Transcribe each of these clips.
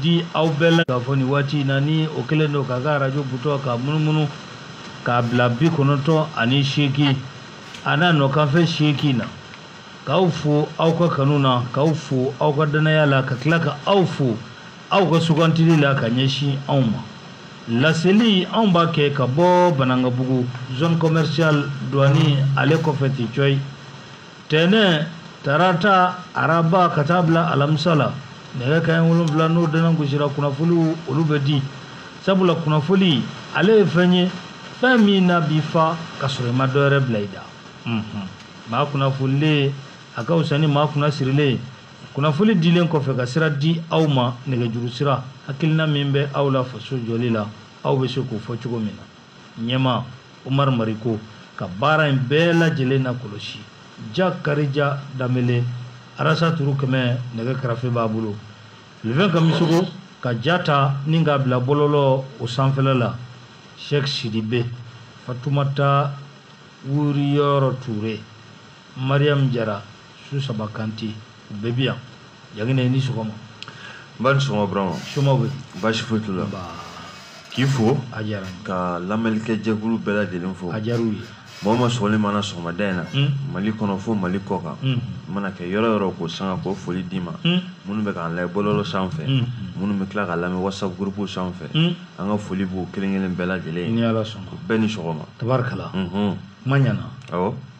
di aw bɛɛ la k'a fɔ nin waati in na ni o kɛlen don k'a ka arajo butɔn ka munumunu k'a bila bi kɔnɔntɔn ani seegin a n'a nɔkanfɛ seegin na k'aw fo aw ka kanu na k'aw fo aw ka dannaya la ka tila ka aw fo aw ka sugantili la ka ɲɛsin anw ma laseli anw b'a kɛ ka bɔ Banankabugu zone commerciale douane ale kɔfɛ ten cɔyi tɛnɛ tarata araba ka taa bila alamisa la nɛgɛ kaɲɛ wolonfila n'o dɛnɛ gosira kunnafoliw olu bɛ di sabula kunnafoli ale ye fɛn ye fɛn min na b'i fa ka sɔrɔ i ma dɔ wɛrɛ bila i da maa kunnafolilen a ka fisa ni maa kunnasirilen ye kunnafoli dilen kɔfɛ ka sira di aw ma nɛgɛjuru sira hakilina min bɛ aw la faso jɔli la aw bɛ se k'o fɔ cogo min na ɲɛma Umaru Mariko ka baara in bɛɛ lajɛlen nakɔlɔsi Jakarija Danbele arasa turu kɛmɛ nɛgɛ karafe b'a bolo lefɛn Kamisogo ka ja ta ni k'a bila bɔlɔlɔw sanfɛla la sɛk sidibe fatumata wuriyɔrɔ ture mariam jara susaba kante u bɛɛ bi yan jagina i ni sɔgɔma nba i ni sɔgɔma burama somaa bɛɛ baasi foyi t'u la k'i fo a diyara n ye ka lamɛnlikɛ jɛkulu bɛɛ lajɛlen fo a diyara u ye mɔgɔ ma sɔgɔli mana sɔgɔmada in na Hmm. mali kɔnɔ fo mali kɔkan Hmm. i mana kɛ yɔrɔ o yɔrɔ ko sanga k'o foli d'i ma Hmm. minnu bɛ k'an lajɛ bɔlɔlɔ sanfɛ Hmm. minnu bɛ tila k'an lamɛn whatsapp gurupuw sanfɛ Hmm. an ka foli b'u kelen kelen bɛɛ lajɛlen ni ye ala sɔnna bɛɛ ni sɔgɔma tabarikala Mhm. ma ɲana awɔ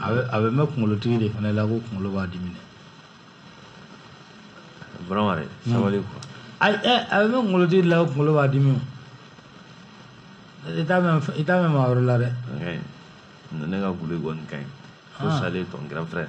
a bɛ mɛn kunkolotigi de fana la ko kunkolo b'a dimi dɛ vraiment dɛ hmm. sabali quoi ayi ɛ a bɛ mɛn kunkolotigi de la ko kunkolo b'a dimi i t'a mɛn i t'a mɛn maa wɛrɛ la dɛ ne ka guli kɔni ka ɲi fo ah. salen tɔn grand frère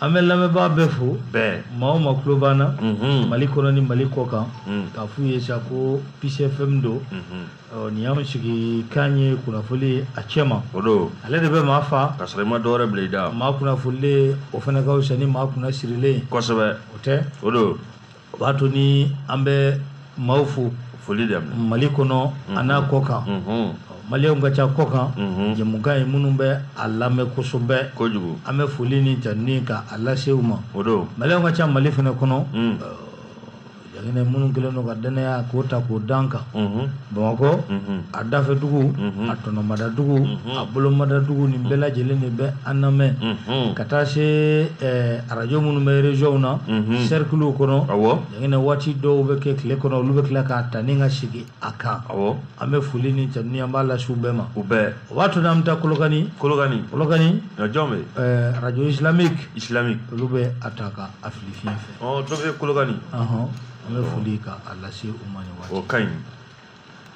an bɛ lamɛnbaa bɛɛ fo bɛɛ maa o maa tulo b'an na mhm. mali kɔnɔ ni mali kɔkan mhm. k'a f'u ye sa ko Peace FM don mhm. nin y'an sigikan ye kunnafoli ye a cɛma o don ale de bɛ maa fa ka sɔrɔ i ma dɔwɛrɛ bila i da maa kunnafolilen o fana ka fisa ni maa kunnasirilen ye kosɛbɛ o tɛ o don o b'a to ni an bɛ maaw fo foli da mali kɔnɔ a n'a kɔkan malienw ka ca kɔkan jamukan ye minnu bɛ an lamɛn kosɛbɛ kojugu an bɛ foli ni ja ka a lase u ma o don malienw ka ca mali fana kɔnɔ jagina minnu kɛlen don ka dannaya k'o ta k'o da an kan Bamakɔ a dafɛdugu a tɔnɔmadadugu a bolomadadugu nin bɛɛ lajɛlen de bɛ an lamɛn ka taa se arajo minnu bɛ rezɔnw na sɛrikiliw kɔnɔ jaginɛ waati dɔw bɛ kɛ tile kɔnɔ olu bɛ tila k'a ta ni ka sigi a kan an bɛ foli ni tanuni an b'a lase u bɛɛ ma u bɛɛ o b'a to n'an bɛ taa kolokani kolokan kolokani arajo islamique olu bɛ a ta ka a fili fiɲɛ fɛ dɔ bɛ kolokani an bɛ foli ka a lase u ma nin waati o ka ɲi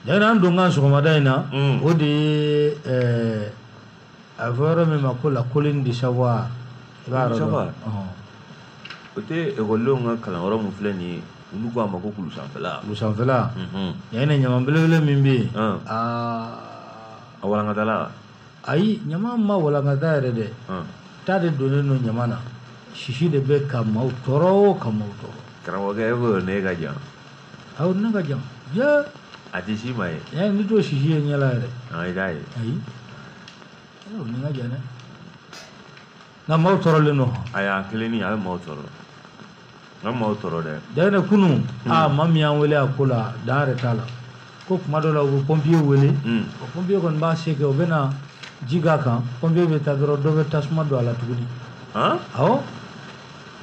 yani an donkan sɔgɔmada in na mm. o de ye eh, a fɔ yɔrɔ min ma ko la colline de savoir i b'a yɔrɔ dɔn o tɛ ekɔlidenw ka kalanyɔrɔ min filɛ nin ye olu ko a ma ko kulusanfɛla kulusanfɛla mhm. yani ɲaman belebele min bɛ yen a walankatala ayi ɲaman ma walankata yɛrɛ dɛ ta de donnen don ɲaman na sisi de bɛ ka maaw tɔɔrɔ o ka maaw tɔɔrɔ karamɔgɔkɛ e ko ne ka jan awɔ ne ka jan dɛ a tɛ si ma ye ɛ n'i t'o sisi ye ɲɛ la yɛrɛ i t'a ye ayi ne ka jan dɛ nka maaw tɔɔrɔlen don a y'a kelen ni a ye maaw tɔɔrɔ nka maaw tɔɔrɔ dɛ jaginɛ kunu aa maa min y'an wele a ko la dan yɛrɛ t'a la ko kuma dɔ la u bɛ pɔnpiye wele o pɔnpiye kɔni b'a se kɛ u bɛ na ji k'a kan pɔnpiye bɛ taa dɔrɔn dɔ bɛ tasuma don a la tuguni awɔ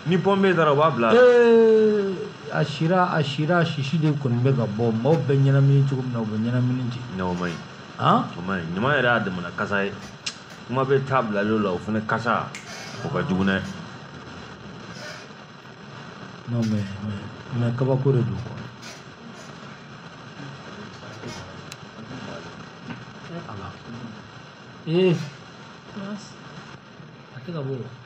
ni pɔnpiye taara u b'a bila ee a sira a sira a sisi de kɔni bɛ ka bɔ maaw bɛ ɲɛnamini cogo min na u bɛ ɲɛnamini ten o man ɲi o man ɲi ɲaman yɛrɛ y'a damana kasa ye kuma bɛ ta bilalen la o fana kasa o ka jugu dɛ non mais mais kabako de don quoi ee a tɛ ka bɔ o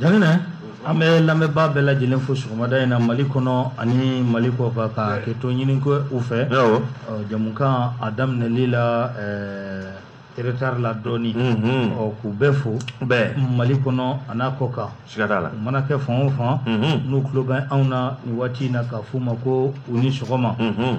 jaginɛ an bɛ lamɛnbaa bɛɛ lajɛlen fo sɔgɔmada in na mali kɔnɔ ani mali kɔkan ka hakɛto ɲini kɛ u fɛ jɛmukan a daminɛli la retard la dɔɔni ɔ k'u bɛɛ fo bɛɛ mali kɔnɔ an'a kɔkan siga t'a la u mana kɛ fan o fan n'u tulo bɛ anw na nin waati in na k'a f'u ma ko u ni sɔgɔma nin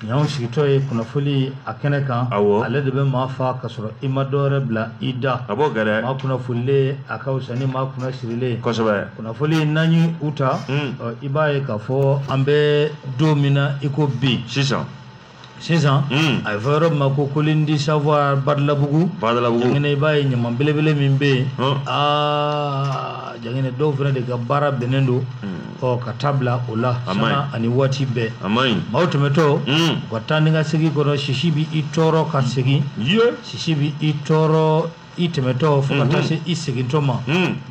y'anw sigitɔ ye kunnafoli a kɛnɛ kan awɔ ale de bɛ maa fa ka sɔrɔ i ma dɔwɛrɛ bila i da a b'o gɛrɛ maa kunnafolilen a ka fisa ni maa kunna sirilen ye kosɛbɛ kunnafoli n'an ye u ta i b'a ye k'a fɔ an bɛ don min na i ko bi sisan sisan hmm. a bɛ fɔ yɔrɔ min ma ko colline du savoir badalabugu badalabugu jangɛnɛ i b'a ye ɲaman belebele min bɛ yen hmm. aa jangɛnɛ dɔw fana de ka baara bɛnnen don hmm. ɔ ka ta bila o la sanga ani waati bɛɛ maaw tɛmɛtɔ u ka taa ni ka segin kɔnɔ sisi bɛ i tɔɔrɔ ka segin sisi bɛ i tɔɔrɔ i tɛmɛtɔ fo ka taa se i segintɔ ma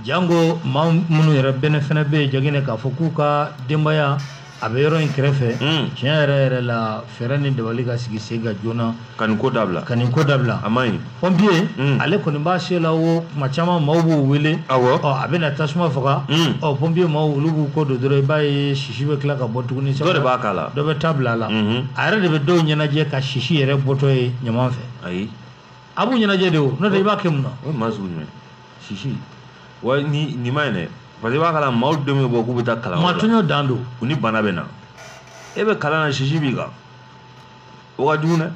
janko maa minnu yɛrɛ bɛn fana bɛ ye ja k'a fɔ k'u ka denbaya a bɛ yɔrɔ in kɛrɛfɛ tiɲɛ yɛrɛ yɛrɛ la fɛɛrɛ ni dabali ka sigi sen kan joona ka ko dabila ka nin ko dabila a man ɲi pɔmpiye ale kɔni b'a se la o tuma caman maaw b'u wele a bɛ na tasuma faga ɔ pɔmpiyew olu b'u ko don dɔrɔn i b'a ye sisi bɛ tila ka bɔ tuguni sɛbɛn de b'a k'a la dɔ bɛ ta bila a la a yɛrɛ de bɛ dɔw ɲɛnajɛ ka sisi yɛrɛ bɔtɔ ye ɲaman fɛ ayi a b'u ɲɛnajɛ de o n'o tɛ i b'a kɛ mun na o ye maa sugu jumɛn sisi wa ni nin man ɲi dɛ parce que i b'a kalama maaw denw bɛ bɔ k'u bɛ taa kalan maa tɔɲɔ dan don u ni bana bɛ na e bɛ kalan na sisi b'i kan o ka jugu dɛ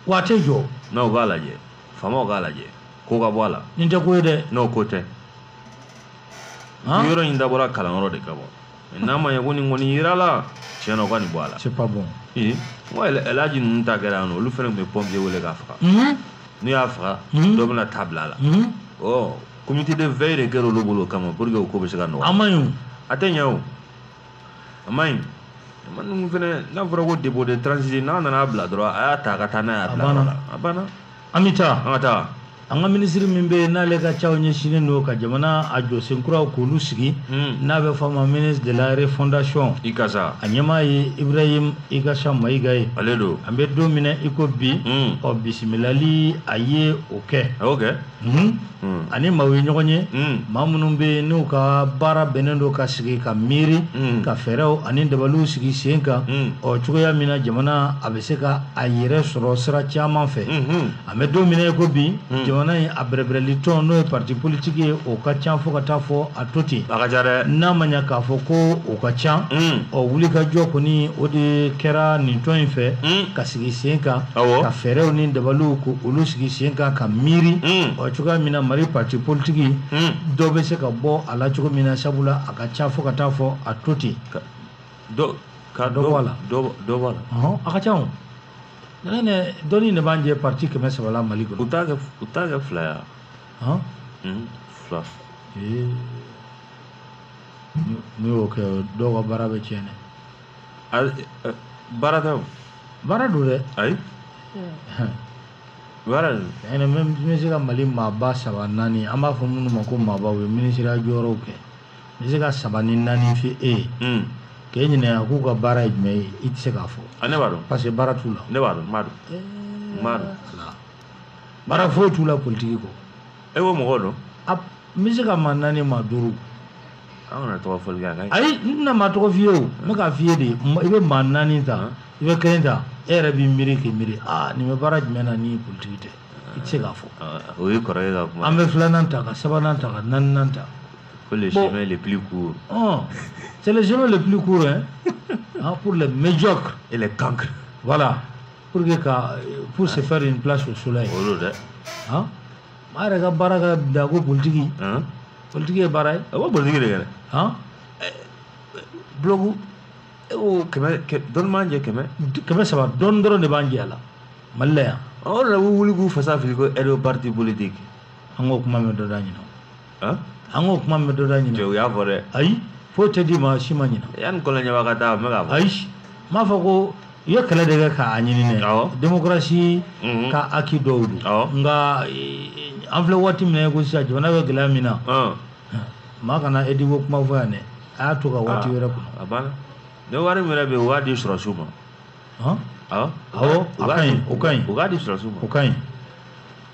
waati joona u k'a lajɛ faamaw k'a lajɛ ko ka bɔ a la nin tɛ ko ye dɛ n'o ko tɛ yɔrɔ in dabɔra kalanyɔrɔ de kama n'a ma ɲɛ ko nin kɔni yirala tiɲɛ na u ka nin bɔ a la c'est pas bon ee n ko ɛlaji ninnu ta kɛra yan nɔ olu fɛnɛ tun bɛ pɔmpiye wele k'a faga mhm. n'u y'a faga mhm. dɔ bɛna ta bila a la mhm. ɔ comité de veille de kɛra olu bolo o kama pour que o ko bɛ se ka nɔgɔya a man ɲi o a tɛ ɲɛ o a man ɲi ɲaman ninnu fɛnɛ n'a fɔra ko dépôt de transit n'a nana a bila dɔrɔn a y'a ta ka taa n'a ye a bila yɔrɔ la a banna an bɛ taa an ka taa an ka minisiri min bɛ yen n'ale ka caw ɲɛsinnen don ka jamana a jɔsen kuraw k'olu sigi hmm. n'a bɛ fɔ a ma ministre de la refondation ikasa a ɲɛmaa ye ibrahim ikasa mayiga ye ale don an bɛ don min na i ko bi hmm. ɔ bisimilali a ye o kɛ a y'o kɛ hmm. Hmm. ani maaw ye ɲɔgɔn ye hmm. maa minnu bɛ yen n'u ka baara bɛnnen don ka sigi ka miiri hmm. ka fɛɛrɛw ani dabaliw sigi sen kan ɔ cogoya min na jamana a bɛ se ka a yɛrɛ sɔrɔ sira caman fɛ an bɛ don min na i ko bi jamana in a bɛrɛbɛrɛli tɔn n'o ye parti politique ye o ka ca fo ka taa fɔ a to ten n'a ma ɲa k'a fɔ ko o ka ca ɔ wulikajɔ kɔni o de kɛra nin tɔn in fɛ ka sigi sen kan ka fɛɛrɛw ni dabaliw ko olu sigi sen kan ka miiri mm. ɔ cogoya min na mali parti politiki mm. dɔ bɛ se ka bɔ a la cogo min na sabula a ka ca fo ka taa fɔ a to ten ka dɔ bɔ a la dɔ bɔ a la a ka ca o nɛnɛ dɔɔnin de b'an jɛ parti kɛmɛ saba la mali kɔnɔ u t'a kɛ u t'a kɛ fila ya mm, fila n'u y'o kɛ dɔw ka baara bɛ tiɲɛ dɛ baara tɛ o baara don dɛ ayi baara don ɛnɛ mɛ n bɛ se ka mali maaba saba naani an b'a fɔ minnu ma ko maabaw ye minisiriya jɔyɔrɔw kɛ n bɛ se ka saba ni naani f'e ye hmm. k'e ɲininka k'u ka baara ye jumɛn ye i tɛ se k'a fɔ ah, ne b'a dɔn parce que baara t'u la ne b'a dɔn n b'a dɔn n b'a dɔn baara foyi t'u la politiki kɔ e ko mɔgɔ dɔn n bɛ se ka maa naani maa duuru an kana tɔgɔ fɔli kɛ a ka ɲi ayi n tɛna maa tɔgɔ f'i ye o n bɛ k'a f'i ye de ma- i bɛ maa naani ta i bɛ kelen ta e yɛrɛ b'i miiri k'i miiri aa nin bɛ baara jumɛn na ni politiki tɛ i tɛ se k'a fɔ Ah, o ye kɔrɔkɛ ka kuma an bɛ filanan ta ka sabanan ta ka naaninan ta ko le bon. chemin le plus court Hum, c'est le chemin le plus court hein, hein, pour les médiocres. et les cancres Voilà. pour que ka pour se faire une place au soleil o don dɛ han maa yɛrɛ ka baara ka bila ko politiki han politiki ye baara ye a b'o politiki de kɛ dɛ han bulogu e ko kɛmɛ kɛ dɔɔni b'a jɛ kɛmɛ kɛmɛ saba dɔɔni dɔrɔn de b'a jɛ a la mali la yan o de la u wuli k'u fasa fili ko ediko parti politique an k'o kuma mɛn dɔ da ɲinan an k'o kuma mɛn dɔ da ɲinan cɛ u y'a fɔ dɛ ayi foyi tɛ d'i ma si ma ɲinɛ yanni kɔlɔnjɛba ka taa n bɛ k'a fɔ ayi n b'a fɔ ko i ye kɛlɛ de kɛ k'a ɲini ne Awɔ. demokarasi Mhm. ka acquis dɔw don Awɔ. nka eh, an filɛ waati min na ko sisan jamana bɛ gɛlɛya min na Ɔn, maa kana ediko kuma fɔ yan dɛ a y'a to ka waati Ah. wɛrɛ kɔnɔ a banna ni wari min yɛrɛ bɛ yen u b'a di sɔrɔsiw ma hɔn awɔ Awɔ, u a b'a ka ɲi, di- o ka ɲi. u b'a di sɔrɔsiw ma o ka ɲi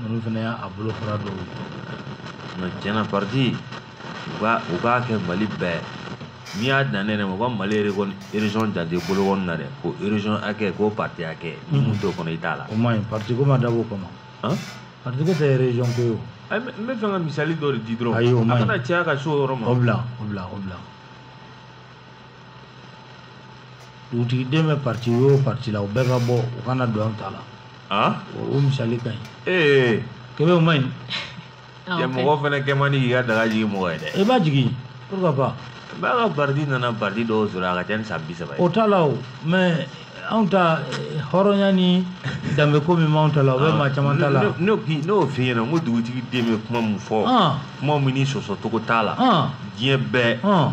Ninnu fana y'a bolofara dɔw ye. Nka tiɲɛna parti u ka u k'a kɛ Mali bɛɛ n'i y'a dan ne yɛrɛ ma u ka Mali région région jate bolo kɔni na dɛ ko région hakɛ ko parti hakɛ ni mun t'o kɔnɔ i t'a la. O man ɲi parti ko ma dabɔ o kama. Han? Parti ko tɛ région ko ye o. Ayi n bɛ fɛ ka misali dɔ de di dɔrɔn. Ayi o man ɲi. A kana caya ka se o yɔrɔ ma. O bila o bila o bila. dugutigi den bɛ parti o parti la u bɛɛ ka bɔ u kana don an ta la ah? o misali ka ɲi ee kebe o man ɲi ah, mɔgɔ fana kɛ man di k'i ka daga jigin mɔgɔ ye dɛ i b'a jigin pourquoi pas b'a ka parti nana parti dɔw sɔrɔ a ka ca ni san bi saba ye o t'a la o mais anw ta eh, hɔrɔnya ni danbe ko min b'anw ta la o bɛ ah, maa caman ta la n'o n'o f'i ɲɛna n ko dugutigi den bɛ kuma min fɔ kuma min ni sɔsɔcogo t'a la diɲɛ bɛɛ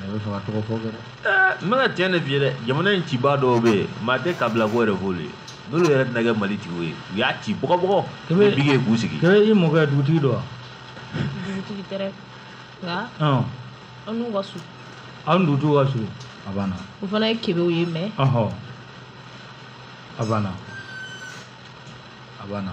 Ne bɛ fɛ ka tɔgɔ fɔ kɛ dɛ. Ɛɛ n bɛ ka tiɲɛ de f'i ye dɛ jamana in cibaa dɔw bɛ yen maa tɛ kabila ko yɛrɛ f'olu ye n'olu yɛrɛ tɛna kɛ mali tigiw ye u y'a ci bɔgɔbɔgɔ Kebe- ni biki ye k'u sigi kebe i mɔkɛ dugutigi don wa dugutigi tɛ dɛ nka Ɔn, an n'u ka surun aw ni dugutigiw ka surun a banna o fana ye kebew ye mɛ ɔhɔ a banna a banna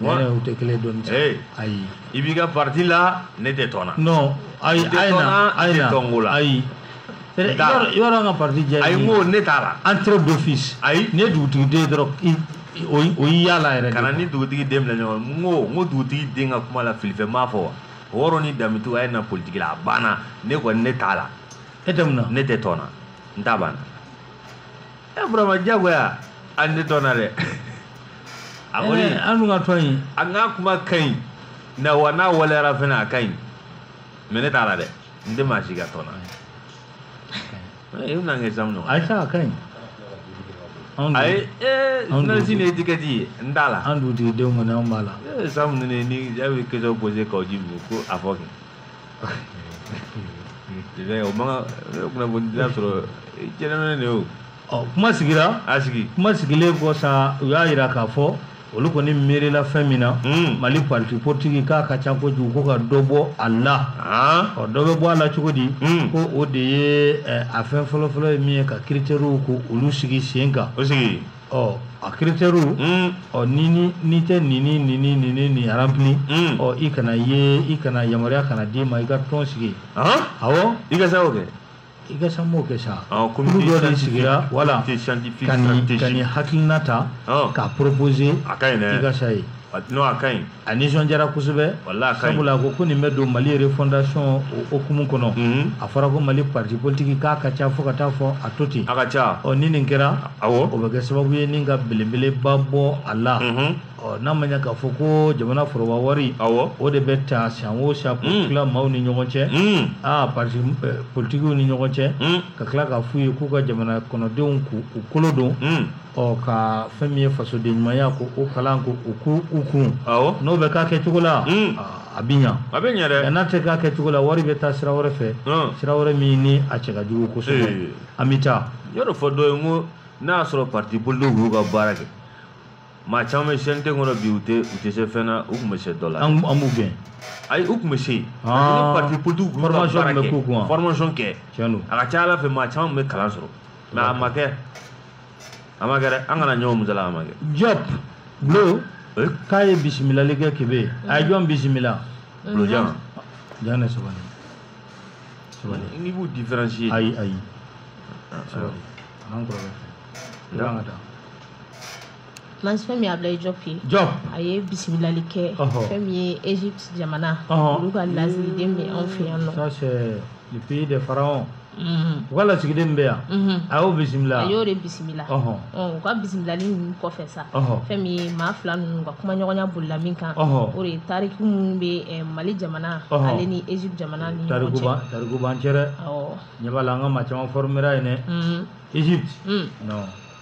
Wala u tɛ kelen dɔn ayi i b'i ka pati la ne tɛ tɔn ayi ayikola ayi yɔrɔ ka pati diya a ko ne t'a la an teri don fi ayi ne dugutigi den o yalala yɛrɛ kana ni dugutigi den ɲɔgɔn ko n ko dugutigi den ka kuma la filifɛ ma fɔ wa ni datu a ye na politiki la a banna ne kɔni ne t'a la e ne tɛ tɔn na n' banna ɛ eh, burama jagoya an tɛ tɔn na dɛ a kɔni eh, an dun ka tɔn in a ka kuma ka ɲi na wa n'a waleyara fana a ka ɲi mɛ ne t'a la dɛ n tɛ maa si ka tɔn na eh, i bɛna n kɛ samu nɔ ayisa a ka ɲi ayi ee sinasi ni etikɛti ye n t'a la an dugutigidenw kɔni an b'a la samu ni ni jaabi question poser Kawu Jim ko a fɔ kɛ o man kan kunnafoni dila sɔrɔ jɛnɛminɛ de y'o ɔ kuma sigira a sigi kuma sigilen kɔ sa u y'a jira k'a fɔ olu kɔni miirila fɛn min na hmm. mali parti politique k'a ka ca kojugu ko ka dɔ bɔ a la ah. ɔ dɔ bɛ bɔ a la cogo di hmm. ko o de ye eh, a fɛn fɔlɔfɔlɔ ye min ye ka critères ko olu sigi sen kan ɔ a kiritɛriw Mm. ɔ ni ni n'i tɛ nin ni nin ni nin ni nin remplir Mm. ɔ i kana ye i kana yamaruya kana d'i ma i ka tɔn sigi Hein? awɔ Ikasa o kɛ. Ikasa m'o kɛ sa Ɔ, kulu comité dɔ de scientifique, sigira wala comité scientifique, ka nin ka stratégique. nin hakilina ta Ɔ. k'a proposer A ka ɲi dɛ. Ikasa ye n'o a ka ɲi a nisɔndiyara kosɛbɛ wala a ka ɲi sabula a ko ko nin bɛ don mali refondation o hukumu kɔnɔ a fɔra ko mali parti politique k'a ka ca fo ka taa fɔ a to ten a ka ca ɔ ni nin kɛra awɔ o bɛ kɛ sababu ye nin ka belebeleba bɔ a la ɔ n'a ma ɲɛ k'a fɔ ko jamana foroba wari awɔ o de bɛ ta san o san k'o mm. tila maaw ni ɲɔgɔn cɛ mm. aa parti eh, politikiw ni ɲɔgɔn cɛ mm. ka tila k'a f'u ye k'u ka jamana kɔnɔdenw k'u kolo don ɔ ka fɛn min ye fasoden ɲumanya ko o kalan ko o k'u u kun awɔ n'o bɛ k'a kɛcogo la Mm. a bɛ ɲa a bɛ ɲɛ nka dɛ n'a tɛ k'a kɛcogo la wari bɛ taa sira wɛrɛ fɛ Hum. sira wɛrɛ min ni a cɛ ka jugu Ee. kosɛbɛ an bɛ taa yɔrɔ fɔ dɔ ye n ko n'a y'a sɔrɔ parti politique y'u ka baara kɛ maa caman bɛ CNT kɔnɔ bi u tɛ u tɛ se fɛn na u tun bɛ se dɔ la an an b'u gɛn ayi u tun bɛ se yen Ah. ni parti politique y'u ka Formation baara tun bɛ k'u kun wa? kɛ formation kɛ tiɲɛ don a ka ca ala fɛ maa caman tun bɛ kalan sɔrɔ mɛ a ma kɛ a ma kɛ dɛ an kana ɲɔgɔn musala a ma kɛ jɔp bulo k'a ye bisimilali kɛ kebe a ye jɔn bisimila bulojan jan ne sabali sabali n'i b'u différencier ayi ayi sabali an kɔrɔkɛ fɛ i b'an ka taa Mas fɛn min Ablaye Jɔp ye Jɔp a ye bisimilali kɛ ɔhɔ fɛn min ye Egypte jamana ɔhɔ olu ka lasigiden bɛ anw fɛ yan nɔ ça c'est le pays des pharaons u ka lasigiden bɛ yan a y'o bisimila a y'o de bisimila u ka bisimilali ninnu kɔfɛ sa fɛn min ye maa fila ninnu ka kumaɲɔgɔnya bolila min kan o de ye tariki minnu bɛ eh, mali jamana ale ni egypte jamana ni ɲɔgɔn cɛ tariku b'an cɛ dɛ tiɲɛ b'a la an ka maa caman formera yen dɛ egypte non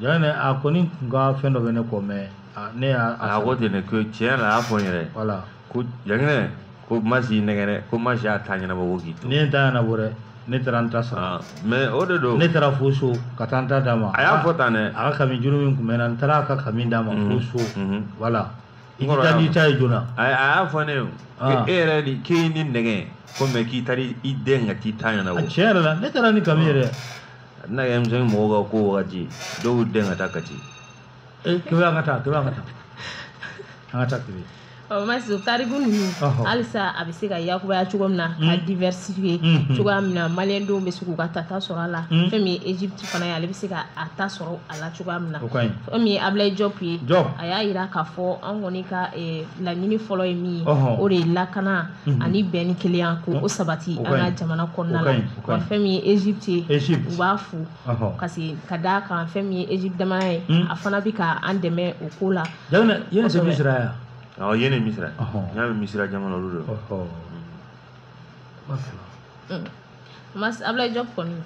Yan ne a kɔni tun ka fɛn dɔ bɛ ne kɔ mɛ ne y'a a ko ten ne ko tiɲɛ na a y'a fɔ n yɛrɛ wala ko jankɛ ko masi y'i nɛgɛn dɛ ko masi y'a ta ɲɛnabɔ ko k'i to ne ye ta ɲɛnabɔ dɛ ne taara n ta sara mɛ o de don ne taara fo so ka taa n ta d'a ma a y'a fɔ tan dɛ a ka kami juru min tun bɛ na n taara a ka kami d'a ma fo so wala i ti taa n'i ta ye joona a y'a fɔ ne e yɛrɛ ni k'e ni nɛgɛ ko mɛ k'i taara i den ka t'i ta ɲɛnabɔ tiɲɛ yɛrɛ la ne taara ni kami yɛrɛ a tɛna kɛ denmisɛnnin mɔgɔw ka ko wagati dɔw y'u dɛn ka taa kati ee eh, kebe an ka taa kebe an ka taa an ka taa kebe ɔ masi tariku ninnu halisa a bɛ se ka yakubaya cogo min na ka hmm. diversifier hmm, hmm. cogoya min na maliyɛn denw bɛ se k'u ka ta sɔrɔ a la fɛn min ye egypte fana ye ale bɛ se ka a ta sɔrɔ a la cogoya min na fɛn min ye ablaye jɔp ye a y'a yira k'a fɔ an kɔni ka eh, laɲini fɔlɔ ye min ye o de ye lakana ani bɛn ni kelenya ko o sabati an ka jamana kɔnɔna la wa fɛn min ye egypte ye u b'a fo parce que ka d'a kan fɛn min ye egypte jamana ye hmm. a fana bɛ ka an dɛmɛ o ko la yɛrɛ c'est misira ya awɔ yɛrɛ misira n y'a mɛn misira jamana olu de hmm. mas ablaye jɔp kɔni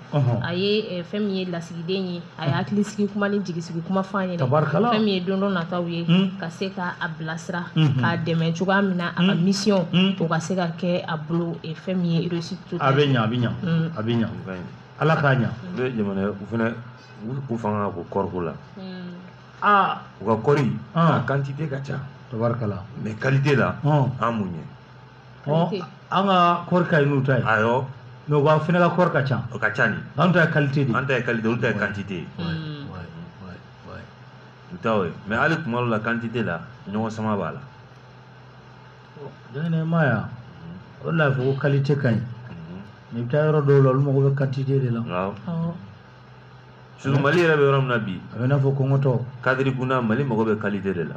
a ye eh, fɛn min ye lasigiden ye a ye hakilisigi kuma ni jigisigi kuma fɔ a ɲɛna tabarikala fɛn min ye don dɔ nataw ye hmm. ka se ka a bilasira hmm. k'a dɛmɛ cogoya min na a ka hmm. mission o ka se ka kɛ a bolo e, fɛn min ye réussite to a bɛ ɲa a bɛ ɲa a bɛ ɲa ala k'a ɲa u bɛ jamana u fana u fanga ka bon kɔriko la aa u ka kɔri a quantité ka ca tabarikala mais qualité la an b'u ɲɛ an ka kɔɔri ka ɲi n'u ta ye awɔ mɛ u ka fana ka kɔɔri ka ca o ka ca ni anw ta ye kalite de an ta ye kalite olu ta ye kantite ye u ta ye mɛ hali tuma dɔw la kantite la ɲɔgɔn sama b'a la dɛ ne ma ya o de la a fɔ ko kalite ka ɲi mɛ i bɛ taa yɔrɔ dɔw la olu mago bɛ kantite de la surtout mali yɛrɛ bɛ yɔrɔ min na bi a bɛ i n'a fɔ kɔngɔtɔ kadiri gunda mali mago bɛ kalite de la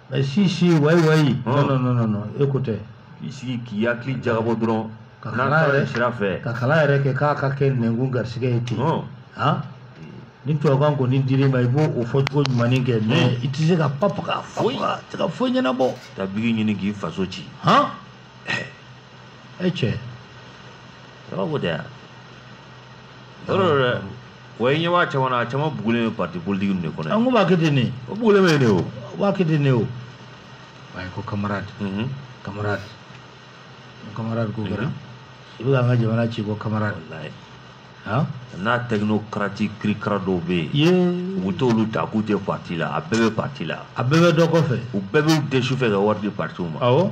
mɛ si si wayi wayi non non non non e ko tɛ i sigi k'i hakili jagabɔ dɔrɔn ka n'a kalan taara yɛrɛ sira fɛ ka kalan yɛrɛ kɛ k'a ka kɛ nɛnkun garisigɛ ye ten Ɔn. han ni tubabukan kɔni dir'i ma i b'o o fɔcogo ɲumanin kɛ mɛ i tɛ se ka pap ka Foyi. fɔ tɛ ka foyi ɲɛnabɔ taa bigi ɲini k'i faso ci han e cɛ a b'a fɔ tɛ yan yɔrɔ dɔ dɛ Wa i ɲɛ b'a caman na a caman bugulen bɛ parti politique de kɔnɔ, an k'o b'a kɛ ten de, o bugulen bɛ yen de o, o b'a kɛ ten de o, waayi ko camarade, unhun, camarade, camarade ko kɛra sabu k'an ka jamana ci ko camarade, walayi, han, n'a technocrate kirikara dɔw bɛ yen, yee, u bɛ t'olu ta k'u tɛ parti la, a bɛɛ bɛ parti la, a bɛɛ bɛ dɔ kɔfɛ, u bɛɛ b'u dɛn sufɛ ka wari di partiw ma, awɔ.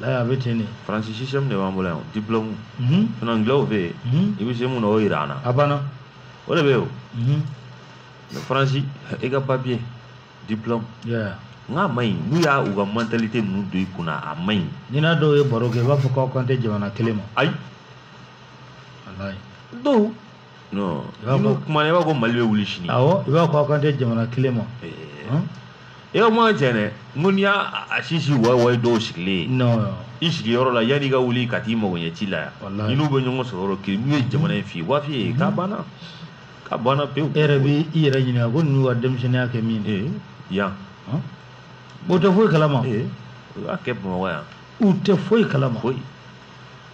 la a bɛ ten de faransi sisɛmu de b'an bolo yan diplɔmu sinon angilɛw fɛ yen i bɛ se mun na o jira an na a banna o de bɛ yen o faransi i ka papiye diplɔmu n k'a man ɲi n'u y'a u ka mantalite ninnu don i kun na a man ɲi n'i n'a dɔw ye baro kɛ i b'a fɔ k'aw kan tɛ jamana kelen ma ayi dɔw non i b'a fɔ kuma i b'a ko mali bɛ wuli sini awɔ i b'a fɔ aw kan tɛ jamana kelen ma i ka kuma cɛ dɛ n ko n'i y'a a sisi wawaye dɔw sigilen non i sigiyɔrɔ la yanni i ka wuli ka t'i mago ɲɛ ci la yan i n'u bɛ ɲɔgɔn sɔrɔ yɔrɔ kelen n'u ye jamana in f'i ye wafi ye k'a banna k'a banna pewu e yɛrɛ b'i i yɛrɛ ɲininka ko ninnu ka denmisɛnninya kɛ min ye yan o tɛ foyi kalama u y'a kɛ bamakɔ yan u tɛ foyi kalama foyi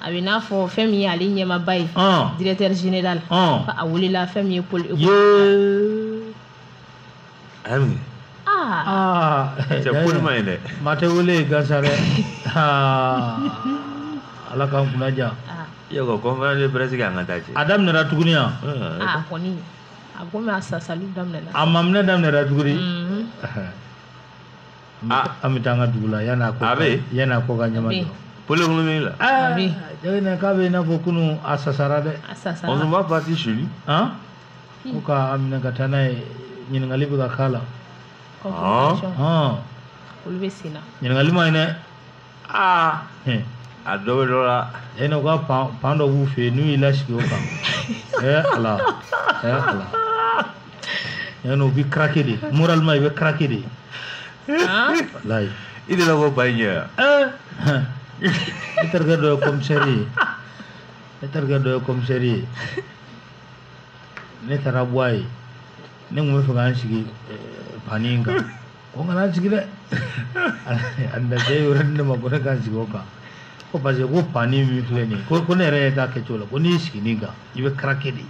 a bɛ n'a fɔ fɛn min ye ale ɲɛmaaba ye directeur général a welela fɛn min ye pôle ami aa cɛ pôle ma ye dɛ maa tɛ wele yen gansan dɛ ala k'an kunna diya yɔrɔ conférence de presse kɛ an ka taa cɛ a daminɛra tuguni yan a kɔni a komi a sasali daminɛna a maaminɛ daminɛra tuguni an bɛ taa an ka dugu la yan'a ko yan'a ko ka ɲama jɔ pôle économique la ah, jɛgɛ k'a bɛ i n'a fɔ kunun a sasara dɛ ɔn b'a pati suli han hmm. ko ka a minɛ ka taa n'a ye ɲininkali bɛ ka k'a la ɔn ɔn olu bɛ sen na ɲininkali man ɲi dɛ aa a dɔ bɛ dɔ la e n'o ka pan pan dɔ b'u fɛ yen n'u y'i lasigi o kan ɛ ala ɛ ala ɛ n'o bɛ craquer de moralement i bɛ craquer de walayi i de la bɔ ba in ɲɛ yan ne terikɛ dɔ ye commissaire ye ne terikɛ dɔ ye commissaire ye ne taara bɔ a ye ne tun b'a fɛ ka n sigi pani in kan ko n kana n sigi dɛ a bɛ sigiyɔrɔ di ne ma ko ne ka n sigi o kan ko parce que ko pani min filɛ nin ye ko ko ne yɛrɛ ye k'a kɛcogo la ko n'i sigi nin kan i bɛ craquer de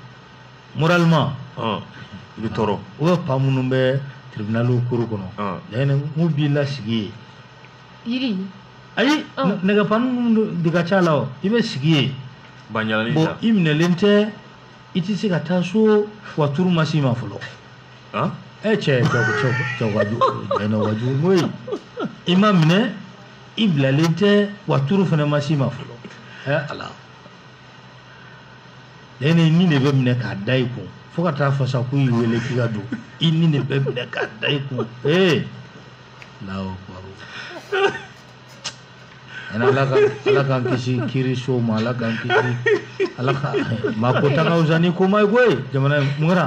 moralement i bɛ tɔɔrɔ u bɛ pan minnu bɛ tribunaliw koro kɔnɔ laɲini mun b'i lasigi yen yiri ayi nɛgɛpani minnu de ka ca la o i bɛ sigi yen bon i minɛlen tɛ i tɛ se ka taa so wa turu ma s'i ma fɔlɔ e cɛ jɛnɛ wajugu koyi i ma minɛ i bilalen tɛ wa tour fana ma s'i ma fɔlɔ ɛ ala ne i ni de bɛ minɛ k'a da i kun fo ka t'a fɔ sa ko i wele k'i ka don i ni de bɛ minɛ k'a da i kun ee lawo kɔrɔ ɛnɛ ala ka ala k'an kisi kiriso ma ala k'an kisi ala ka maa ko ta ka fisa ni ko ma ye koyi jamana in mun kɛra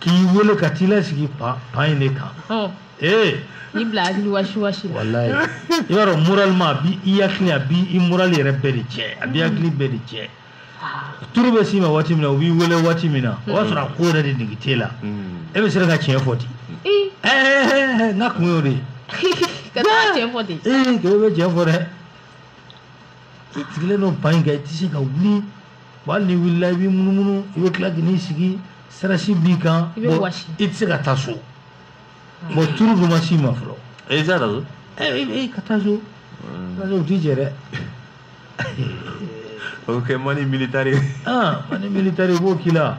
k'i wele ka t'i lasigi banc banc in de kan ee i bila hakili wasi wasi la walayi i b'a dɔn moralement a b'i hakili a b'i moral yɛrɛ bɛɛ de tiɲɛ a b'i hakili bɛɛ de tiɲɛ tour bɛ s'i ma waati min na u b'i wele waati min na o b'a sɔrɔ a ko yɛrɛ de nege t'e la e bɛ sera ka tiɲɛ fɔ ten ɛɛ n ka kun y'o de ye ka taa tiɲɛ fɔ ten ee k'e bɛ tiɲɛ fɔ dɛ i sigilen don banc in kan i tɛ se ka wuli Bon hali n'i wulila i b'i munumunu i bɛ tila ka n'i sigi stress b'i kan i bɛ wɔsi i tɛ se ka taa so bon tour dun ma s'i ma fɔlɔ e t'a dɔn ɛ ɛ ka taa so kaso o t'i jɛ dɛ o bɛ kɛ manu militari ye aa manu militari u b'o k'i la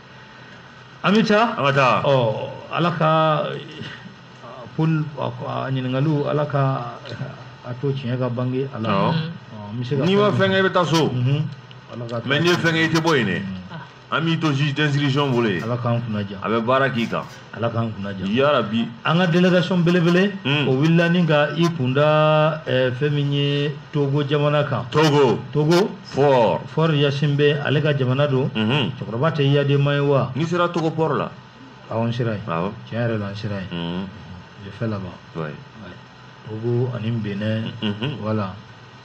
an bɛ taa an ka taa ɔ ala ka pôle ɲininkaliw ala ka a to tiɲɛ ka bange a la n'i ma fɛn kɛ i bɛ taa so mais n'i ye fɛn kɛ i tɛ bɔ yen dɛ an b'i to juge d'instruction bolo yen ala k'an kunnadiya a bɛ baara k'i kan ala k'an kunnadiya yarabi an ka délégation belebele hmm. o wulila nin ka i kunda eh, fɛn min ye togo jamana kan togo togo faure faure gnassingbé ale ka jamana don mhm. cɛkɔrɔba tɛ eyadema ye wa n'i sera togo port la awɔ n sera yen tiɲɛ yɛrɛ la n sera yen mhm. j'ai fait là-bas togo ani benin mhm. voilà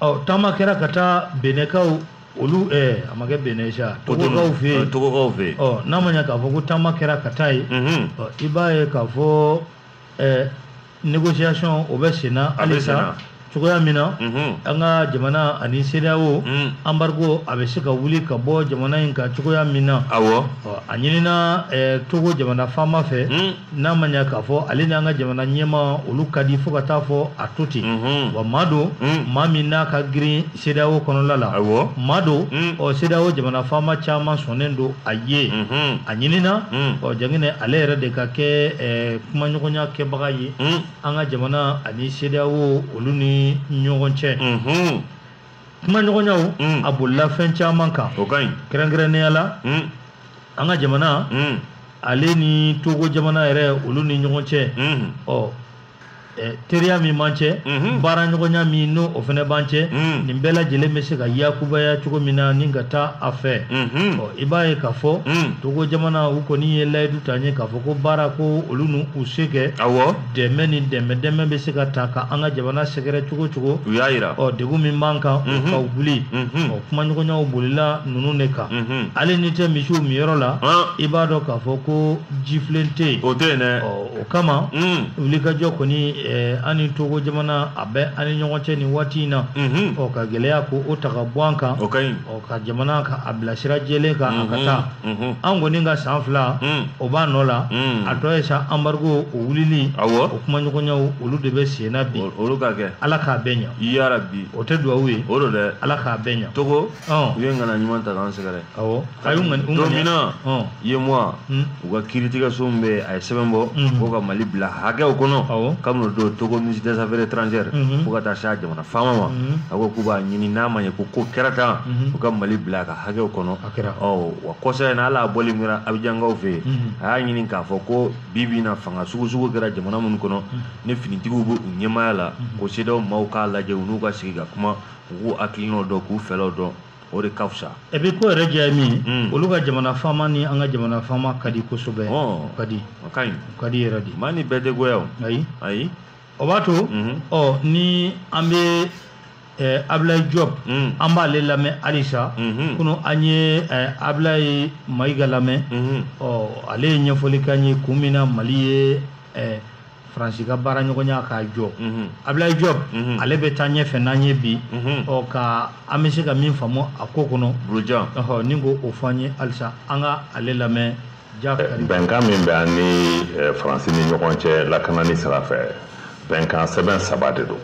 ɔ taama kɛra ka taa benɛkaw olu eh, a ma kɛ benɛ sa togokaw fɛ yen togokaw fɛ yen ɔ n'an b'a ye k'a fɔ ko taama kɛra ka taa yen mhm. ɔ i b'a ye k'a fɔ eh, négociation o bɛ sen na halisa cogoya min na mhm. an ka jamana ani CEDEAO mhm. embargo a bɛ se ka wuli ka bɔ jamana in kan cogoya min na awɔ a ɲinina eh, Togo jamana faama fɛ mhm. n'an b'a ye k'a fɔ ale n'an ka jamana ɲɛmaa olu ka di fo ka t'a fɔ a to ten wa maa don maa min n'a ka girin CEDEAO kɔnɔla la maa don ɔ CEDEAO jamana faama caman sɔnnen don a ye a ɲinina ɔ janko ale yɛrɛ de ka kɛ kumaɲɔgɔnya kɛbaga ye an ka jamana ani CEDEAO olu ni ɲɔgɔn cɛ kuma ɲɔgɔnyaw mm. a bolila fɛn caman kan o ka ɲi kɛrɛnkɛrɛnnenya la mm. an ka jamana mm. ale ni togo jamana yɛrɛ olu ni ɲɔgɔn cɛ ɔ teriya min b'an cɛ mm-hmm. baara ɲɔgɔnya min n'o fana b'an cɛ nin bɛɛ lajɛlen bɛ se ka yakubaya cogo min na ni ka taa a fɛ mm-hmm. ɔ i b'a ye k'a fɔ togo jamana u kɔni ye layidu ta an ye k'a fɔ ko baara ko olu n'u u se kɛ dɛmɛ ni dɛmɛ dɛmɛ bɛ se ka taa ka an ka jamana sɛgɛrɛ cogo cogo u y'a jira ɔ degun min b'an kan o ka wuli ɔ kumaɲɔgɔnyaw bolila ninnu de kan hali n'i tɛ misiw min yɔrɔ la i b'a dɔn k'a fɔ ko jifilen tɛ yen o tɛ yen dɛ o kama wulikajɔ kɔni an ni togo jamana a bɛ an ni ɲɔgɔn cɛ nin waati in na ɔ ka gɛlɛya ko o ta ka bɔ an kan o ka ɲi ka jamana ka a bila sira jɛlen kan a ka mhm, taa mhm. an kɔni ka san fila mhm. o b'a nɔ la a tɔ ye sa anbarigo o wulili o kuma ɲɔgɔnyaw olu de bɛ sen na bi olu ka kɛ ala k'a bɛɛ ɲa yara bi o tɛ duwawu ye o don dɛ ala k'a bɛɛ ɲa togo u ye ŋaniya ɲuman ta k'an sɛgɛrɛ awɔ a y'u ŋani don min na UEMOA hmm. u ka kiiritigɛso min bɛ a ye sɛbɛn bɔ hmm. ko ka mali bila hakɛw kɔnɔ kabini o don togo ministre des affaires étrangères fo ka taa se a jamana faama ma mhm. a ko k'u b'a ɲini n'a ma ɲɛ ko ko kɛra tan mhm. u ka mali bila a ka hakɛw kɔnɔ wa kɔsa in na hali a bɔli min kɛra abijankaw fɛ yen mhm. a y'a ɲini k'a fɔ ko bi bi in na fanga sugu sugu kɛra jamana minnu kɔnɔ ni finitigiw bɛ u ɲɛmaaya la ko CEDEAO maaw k'a lajɛ u n'u ka sigi ka kuma u k'u hakilinaw dɔn k'u fɛlaw dɔn o de ka fisa e bɛ ko yɛrɛ diya ye min mm. olu ka jamana faama ni an ka jamana faama ka di kosɛbɛ o ka di o ka ɲi o ka di yɛrɛ de maa ni bɛɛ tɛ goya o ayi ayi o b'a to mhm. ɔ ni an bɛ eh, Ablaye Diop mm. an b'ale lamɛn halisa mhm. kunu an ye eh, Ablaye Mayiga lamɛn mhm. ɔ ale ye ɲɛfɔli k'an ye kun min na Mali ye eh, faransi ka baara ɲɔgɔnya k'a jɔ mhm. Ablaye Diop mhm. ale bɛ taa ɲɛfɛ n'an ye bi mhm. ɔ ka an bɛ se ka min faamu a ko kɔnɔ ni k'o fɔ an ye halisa an ka ale lamɛn bɛnkan min bɛ an ni eh, faransi ni ɲɔgɔn cɛ lakanani sira fɛ bɛnkan sɛbɛn saba de don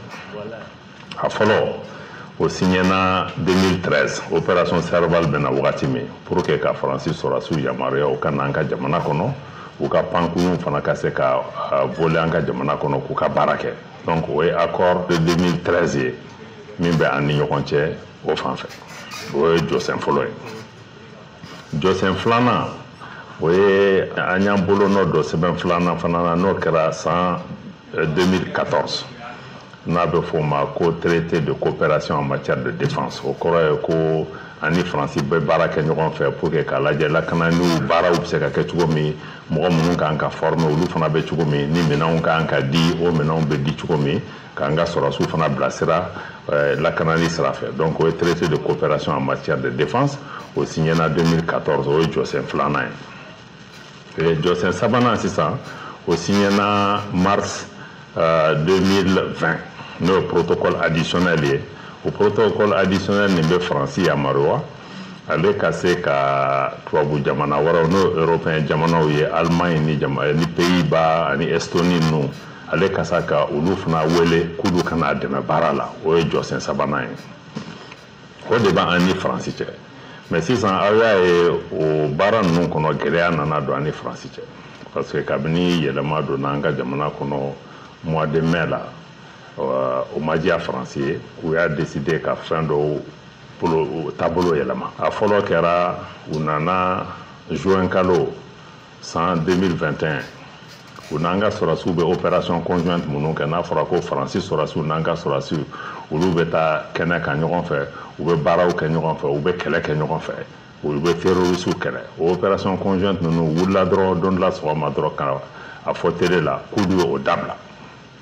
a fɔlɔ o siɲɛna 2013 opération serval bɛ na wagati min pour que ka faransi sɔrɔsiw yamaruya u ka na an ka jamana kɔnɔ u ka pankurunw fana ka se ka eh, voler an ka jamana kɔnɔ k'u ka baara kɛ donc o ye accord de 2013 ye min bɛ an ni ɲɔgɔn cɛ o fan fɛ o ye jɔsen fɔlɔ ye jɔsen filanan o ye an y'an bolonɔ don sɛbɛn filanan fana na n'o kɛra san 2014 n'a bɛ f'o ma ko traité de coopération en matière de défense o kɔrɔ ye ko an ni faransi bɛ baara kɛ ɲɔgɔn fɛ pour que k'a lajɛ lakananiw baaraw bɛ se ka kɛ cogo min mɔgɔ minnu ka kan ka former olu fana bɛ cogo min ni minɛnw ka kan ka di o minɛnw bɛ di cogo min k'an ka sɔrɔsiw fana bilasira eh, lakanani sira fɛ donc o ye traité de coopération en matière de défense o signena 2014 o ye jɔsen filanan ye jɔsen sabanan sisan o signena mars 2020 eh, n'o ye protocole additionnel ye o protocole additionnel nin bɛ faransi yamaruya ale ka se ka tubabu jamana wɛrɛw n'o européen jamanaw ye allemagne ni, ni pays-bas ani estonie ninnu ale ka se ka olu fana wele k'olu ka na a dɛmɛ baara la o ye jɔsen sabanan ye o de b'an ni faransi cɛ mais sisan aw y'a ye o baara ninnu kɔnɔ gɛlɛya nana don an ni faransi cɛ parce que kabini yɛlɛma donna an ka jamana kɔnɔ mois de mai la euh, o ma diya faransi ye u y'a deside ka fɛn dɔw taabolo yɛlɛma a fɔlɔ kɛra u nana juin kalo san 2021 u n'an ka sɔrɔsiw bɛ opération conjointe minnu kɛ n'a fɔra ko faransi sɔrɔsiw n'an ka sɔrɔsiw olu bɛ taa kɛnɛ kan ɲɔgɔn fɛ u bɛ baaraw kɛ ɲɔgɔn fɛ u bɛ kɛlɛ kɛ ɲɔgɔn fɛ olu bɛ terrorisiw kɛlɛ o opération conjointe ninnu u wulila dɔrɔn don dɔ la sɔgɔma dɔrɔn ka a fɔ tele la k'olu ye o dabila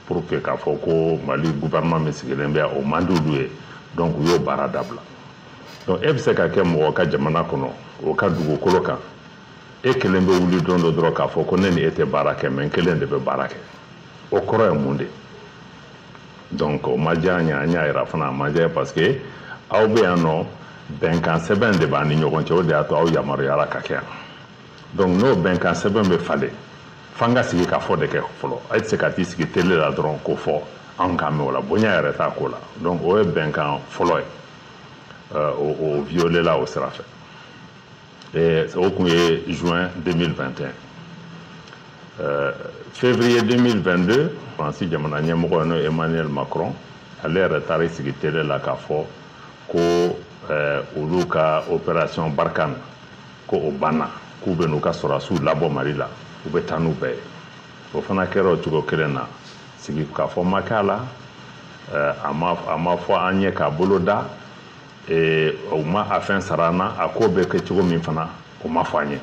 parce que k'a fɔ ko mali gouvernement min sigilen bɛ o man di olu ye donc u y'o baara dabila donc e bɛ se ka kɛ mɔgɔ ka jamana kɔnɔ o ka dugukolo kan e kelen bɛ wuli don dɔ dɔrɔn k'a fɔ ko ne ni e tɛ baara kɛ mais n kelen de bɛ baara kɛ o kɔrɔ ye mun de donc o ma diya an ye an y'a yira fana a ma diya parce que aw bɛ yan nɔ bɛnkan sɛbɛn de b'an ni ɲɔgɔn cɛ o de y'a to aw yamaruyara ka kɛ yan donc n'o bɛnkan sɛbɛn bɛ falen f'an ka sigikafɔ de kɛ fɔlɔ e tɛ se ka t'i sigi tele la dɔrɔn k'o fɔ anw k'a mɛn o la bonya yɛrɛ t'a ko la donc o ye bɛnkan fɔlɔ ye o violela o sira fɛ o tun ye juin 2021 euh, février 2022 Faransi jamana ɲɛmɔgɔ n'o Emmanuel Macron ale yɛrɛ taara i sigi tele la k'a fɔ ko euh, olu ka opération Barkhane ko o banna k'u bɛ n'u ka sɔrɔdasiw labɔ Mali la u bɛ taa n'u bɛɛ ye o fana kɛra o cogo kelen na sigikafɔ ma kɛ a la euh, a ma fɔ an ye k'a boloda o ma a fɛn sara an na a ko bɛ kɛ cogo min fana o ma fɔ an ye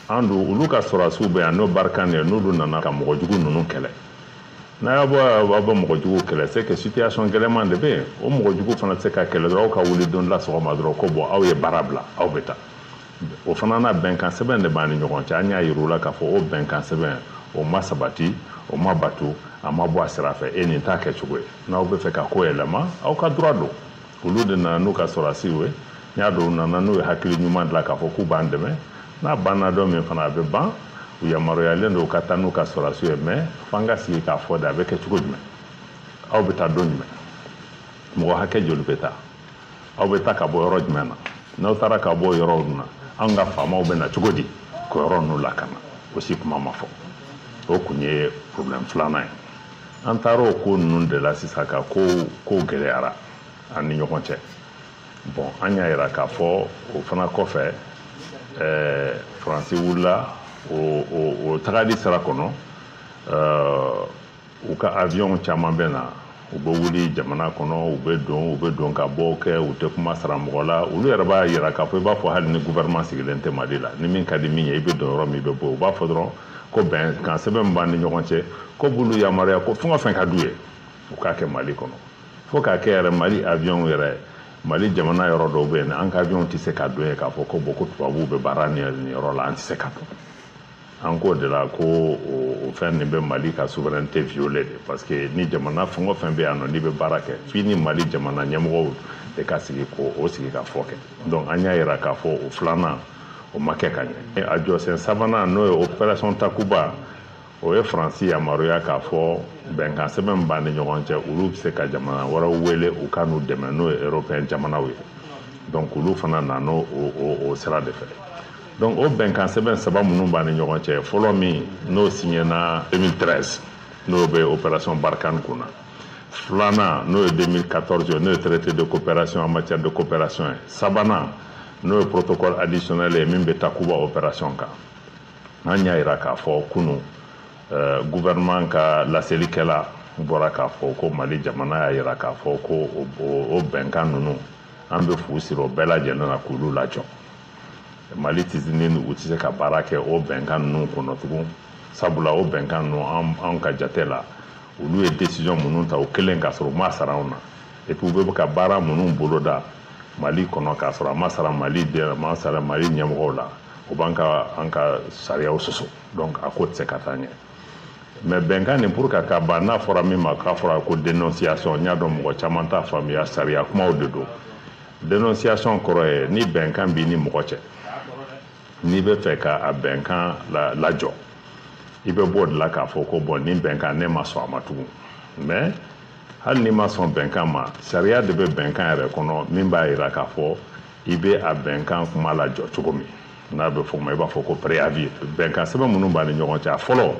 an don olu ka sɔrɔdasiw bɛ yan n'o Barkhane de ye n'olu nana ka mɔgɔ jugu ninnu kɛlɛ n'a y'a bɔ b'a bɔ mɔgɔ jugu kɛlɛ se kɛ situation gɛlɛman de bɛ yen o mɔgɔ jugu fana se ka kɛlɛ dɔrɔn aw ka wuli don la sɔgɔma dɔrɔn ko bon aw ye baara bila aw bɛ taa o fana na bɛnkan sɛbɛn de b'an ni ɲɔgɔn cɛ an y'a yir'u la k'a fɔ o bɛnkan sɛbɛn o ma sabati o ma bato a ma bɔ a sira fɛ e nin t'a kɛcogo ye n'aw b'a fɛ ka ko yɛlɛma aw ka droit don olu de nana n'u ka sɔrɔdasiw ye n y'a dɔn u nana n'u ye hakili ɲuman de la k'a fɔ k'u b'an dɛmɛ n'a banna don min fana a bɛ ban u yamaruyalen don u ka taa n'u ka sɔrɔdasiw ye mɛ f'an ka sigi k'a fɔ de a bɛ kɛ cogo jumɛn aw bɛ taa don jumɛn mɔgɔ hakɛ joli bɛ taa aw bɛ taa ka bɔ yɔrɔ jumɛn na n'aw taara ka bɔ yɔrɔw na anw ka faamaw bɛ na cogo di k'o yɔrɔ ninnu lakana o si kuma ma fɔ o tun ye problème filanan ye an taar'o ko ninnu de la sisan ka ko ko gɛlɛyara an ni ɲɔgɔn cɛ bɔn an y'a yira k'a fɔ o fana kɔfɛ ɛɛ faransi wulila o o o tagali sira kɔnɔ ɛɛ u ka awiyɔn caman bɛ na u bɛ wuli jamana kɔnɔ u bɛ don u bɛ don ka bɔ kɛ u tɛ kuma sara mɔgɔ la olu yɛrɛ b'a yira k'a fɔ i b'a fɔ hali ni gouvernement sigilen tɛ mali la ni min ka di min ye i bɛ don yɔrɔ min i bɛ bɔ u b'a fɔ dɔrɔn ko bɛnkan sɛbɛn min b'an ni ɲɔgɔn cɛ k'o b'olu yamaruya ko fɛn o fɛn ka d'u ye u k'a kɛ mali kɔnɔ fo k'a kɛ yɛrɛ mali aviɔnw yɛrɛ mali jamana yɔrɔ dɔw bɛ yen an ka aviɔnw tɛ se ka don yen k'a fɔ ko bɔn ko tubabuw bɛ baara nin yɔrɔ la an tɛ se ka don an k'o de la ko o fɛn nin bɛ mali ka souveraineté violer de parce que ni jamana fɛn o fɛn bɛ yan nɔ n'i bɛ baara kɛ f'i ni mali jamana ɲɛmɔgɔw de ka sigi k'o sigi ka fɔ kɛ donc an y'a jira k'a fɔ o filanan o ma kɛ ka ɲɛ a jɔsen sabanan n'o ye operation takuba o ye faransi yamaruya k'a fɔ bɛnkan sɛbɛn b'an ni ɲɔgɔn cɛ olu bɛ se ka jamana wɛrɛw wele u ka n'u dɛmɛ n'o ye européen jamanaw ye donc olu fana nana o sira de fɛ donc o bɛnkan sɛbɛn saba minnu b'an ni ɲɔgɔn cɛ fɔlɔ min n'o siɲɛna 2013 n'o bɛ operation barkhane kun na filanan n'o ye 2014 ye n'o ye traité de coopération en matière de coopération ye sabanan n'o ye protocole additionnel ye min bɛ takuba opération kan an y'a jira k'a fɔ kunu euh, gouvernement ka laselikɛla bɔra k'a fɔ ko mali jamana y'a jira k'a fɔ ko o bɛnkan ninnu an bɛ fu siri o bɛɛ lajɛlen na k'olu lajɔ mali tisinin u tɛ se ka baara kɛ o bɛnkan ninnu kɔnɔ tugun sabula o bɛnkan ninnu anw ka jate la olu ye desizɔn minnu ta u kelen k'a sɔrɔ u m'a sara anw na epi u bɛ ka baara minnu boloda mali kɔnɔ k'a sɔrɔ a ma sara mali den a ma sara mali ɲɛmɔgɔw la o b'an ka an ka sariyaw sɔsɔ donc a ko tɛ se ka taa ɲɛ mɛ bɛnkan nin pour k'a ka ban n'a fɔra min ma k'a fɔra ko dénonciation n y'a dɔn mɔgɔ caman t'a faamuya sariya kumaw de don dénonciation kɔrɔ ye ni bɛnkan b'i ni mɔgɔ cɛ n'i bɛ fɛ ka a bɛnkan la lajɔ i bɛ bɔ o de la k'a fɔ ko bɔn nin bɛnkan ne ma sɔn a ma tugun mɛ hali n'i ma sɔn bɛnkan ma sariya de bɛ bɛnkan yɛrɛ kɔnɔ min b'a jira k'a fɔ i bɛ a bɛnkan kuma lajɔ cogo min n'a bɛ f'o ma i b'a fɔ ko préavis bɛnkan sɛbɛn minnu b'an ni ɲɔgɔn cɛ a fɔlɔ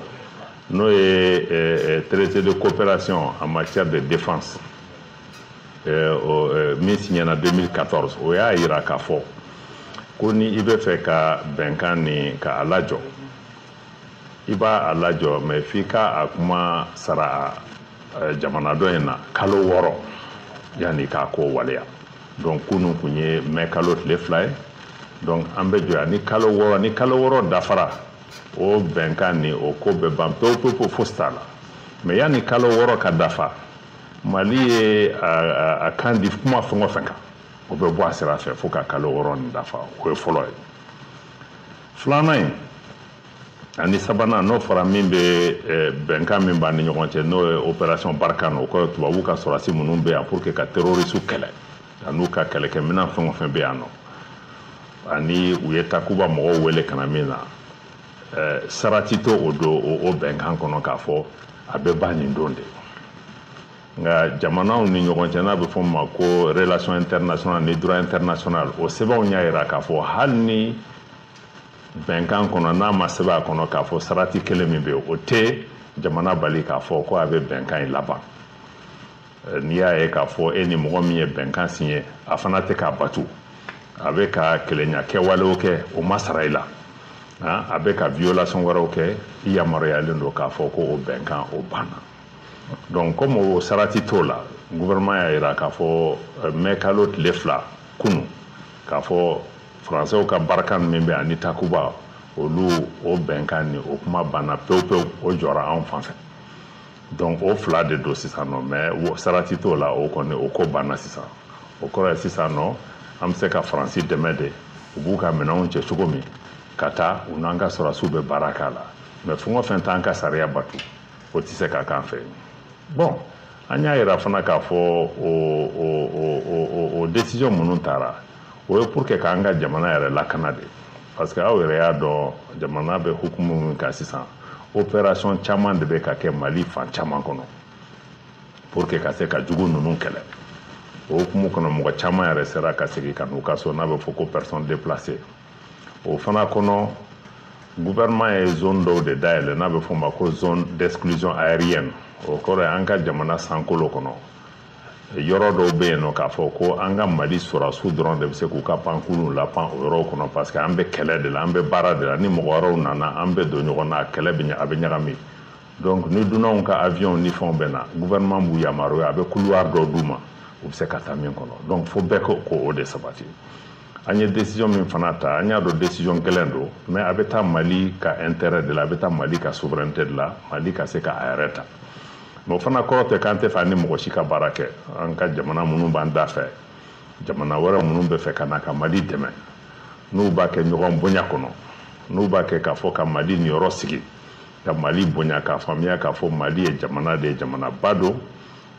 n'o ye eh, eh, traité de coopération en matière de défense min siɲɛna 2014 o y'a jira k'a fɔ ko ni i bɛ fɛ ka bɛnkan nin ka a lajɔ i b'a a lajɔ mais f'i ka a kuma sara jamana dɔ in na kalo wɔɔrɔ yanni k'a ko waleya donc kunu kun ye mɛ kalo tile fila ye donc an bɛ jɔ yanni kalo wɔɔrɔ ni kalo wɔɔrɔ dafara o bɛnkan nin o ko bɛ ban pewu pewu fosi t'a la mais yanni kalo wɔɔrɔ ka dafa mali ye a kan di kuma fɛn o fɛn kan o bɛ bɔ a sira fɛ fo ka kalo wɔɔrɔ nin dafa o ye fɔlɔ ye filanan ye ani sabanan n'o fɔra min bɛ bɛnkan min b'an ni ɲɔgɔn cɛ n'o ye opération barkhane o kɔrɔ tubabu ka sɔrɔdasi minnu bɛ yan pour que ka terrorisiw kɛlɛ an'u ka kɛlɛkɛminɛn fɛn o fɛn bɛ yan nɔ ani u ye takuba mɔgɔw wele ka na min na sarati t'o o don o bɛnkan kɔnɔ k'a fɔ a bɛ ban nin don de nka jamanaw ni ɲɔgɔn cɛ n'a bɛ f'o ma ko relation international ni droit international o sɛbɛnw y'a jira k'a fɔ hali ni bɛnkan kɔnɔ n'a ma sɛbɛn a kɔnɔ k'a fɔ sarati kelen min bɛ yen o tɛ jamana bali k'a fɔ ko a bɛ bɛnkan in laban Eh, n'i y'a ye k'a fɔ e ni mɔgɔ min ye bɛnkan siɲɛ a fana tɛ k'a batu a bɛ ka kelenya kɛwalew kɛ o ma sara i la a bɛ ka violation wɛrɛw kɛ i yamaruyalen don k'a fɔ ko o bɛnkan o banna donc comme o sarati t'o la gouvernement y'a jira k'a fɔ eh, mai kalo tile fila kunu k'a fɔ faransɛw ka barakan min bɛ ani takuba olu o bɛnkan nin o kuma banna pewu pewu o jɔra anw fan fɛ donc o fila de don sisan nɔ mais sarati t'o la o kɔni o ko banna sisan o kɔrɔ ye sisan nɔ an bɛ se ka faransi dɛmɛ de u b'u ka minɛnw cɛ cogo min ka taa u n'an ka sɔrɔdasiw bɛ baara k'a la mais fɛn o fɛn t'an ka sariya bato o tɛ se ka k'an fɛ bon an y'a yira fana k'a fɔ o o o o o décision minnu tara o ye pour que k'an ka jamana yɛrɛ lakana de parce que aw yɛrɛ y'a dɔn jamana bɛ hukumu min kan sisan opération caman de bɛ ka kɛ mali fan caman kɔnɔ pour que ka se ka jugu ninnu kɛlɛ o hukumu kɔnɔ mɔgɔ caman yɛrɛ sera ka segin ka n'u ka so n'a bɛ fɔ ko personne déplacée o fana kɔnɔ gouvernement ye zone dɔw de dayɛlɛ n'a bɛ f'o ma ko zone d'exclusion aérienne o kɔrɔ ye an ka jamana sankolo kɔnɔ yɔrɔ dɔw bɛ yen nɔ k'a fɔ ko an ka mali sɔrɔdasiw dɔrɔn de bɛ se k'u ka pankurunw lapan o yɔrɔw kɔnɔ parce que an bɛ kɛlɛ de la an bɛ baara de la ni mɔgɔ wɛrɛw nana an bɛ don ɲɔgɔn na kɛlɛ bɛ a bɛ ɲagami donc ni dunanw ka avion ni fɛnw bɛ na gouvernement b'u yamaruya a bɛ couloir dɔ d'u ma u bɛ se ka taa min kɔnɔ donc fo bɛɛ k'o ko o de sabati an ye décision min fana ta an y'a dɔn décision gɛlɛn don mais a bɛ taa mali ka intérêt de la a bɛ taa mali ka souveraineté de la mali ka se ka a yɛrɛ ta o fana kɔrɔ tɛ k'an t'a fɛ an ni mɔgɔ si ka baara kɛ an ka jamana minnu b'an da fɛ jamana wɛrɛ minnu b'a fɛ ka na ka mali dɛmɛ n'u b'a kɛ ɲɔgɔn bonya kɔnɔ n'u b'a kɛ k'a fɔ ka mali niyɔrɔ sigi ka mali bonya k'a faamuya k'a fɔ mali ye jamana de ye jamanaba don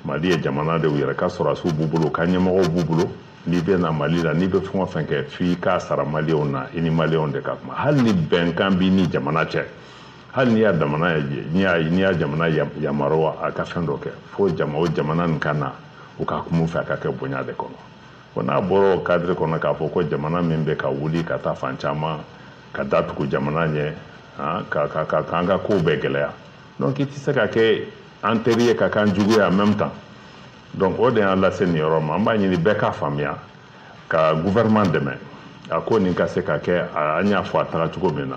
mali ye jamana de u yɛrɛ ka sɔrɔdasiw b'u bolo ka ɲɛmɔgɔw b'u bolo n'i bɛ na mali la n'i bɛ fɛn o fɛn kɛ f'i k'a sara maliyɛnw na i ni maliyɛnw de ka kuma hali ni bɛnkan b'i ni jamana cɛ hali n'i y'a jamana n'i y'a n'i y'a jamana yamaruya a ka fɛn dɔ kɛ fo jama o jamana nin ka na u ka kuma fɛ a ka kɛ bonya de kɔnɔ bon n'a bɔra o kadiri kɔnɔ k'a fɔ ko jamana min bɛ ka wuli ka taa fan caman ka datugu jamana ɲɛ ka ka ka k'an ka kow bɛɛ gɛlɛya donc i tɛ se ka kɛ an teri ye ka k'an jugu ye en même temps donc o de y'an lase nin yɔrɔ ma an b'a ɲini bɛɛ k'a faamuya ka gouvernement dɛmɛ a ko nin ka se ka kɛ an y'a fɔ a taga cogo min na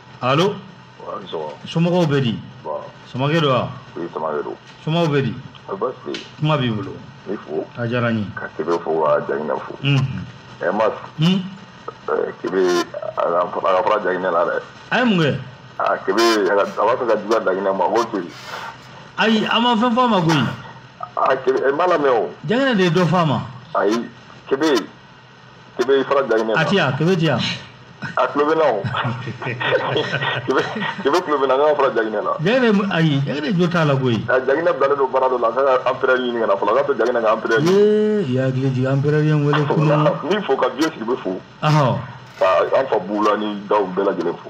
alo somɔgɔw bɛ di samakɛ don wa somɔgɔw bɛ di kuma b'i bolo a diyara n ye ka kebe fo ka jaginɛ fo ɛ mais kebe a ka fara jaginɛ la dɛ a ye mun kɛ a kebe a b'a fɛ ka juguya jaginɛ ma k'o to yen ayi an ma fɛn fɔ a ma koyi a kebe e m'a lamɛn o jaginɛ de ye dɔ fɔ a ma ayi kebe kebe fara jaginɛ la. a ti yan kebe ti yan. a tulo bɛ n na o kebe kebe tulo bɛ n na nka a ka fara jaginɛ la. jaginɛ ayi jaginɛ jo t'a la koyi. a jaginɛ bilalen don baara dɔ la a kan ka anperɛri ɲini ka na fɔlɔ a k'a to jaginɛ ka anperɛri. ee i hakili jigin anperɛri ye n wele kunu. n b'i fo ka biye sidibe fo. ka an fa bulani daw bɛɛ lajɛlen fo.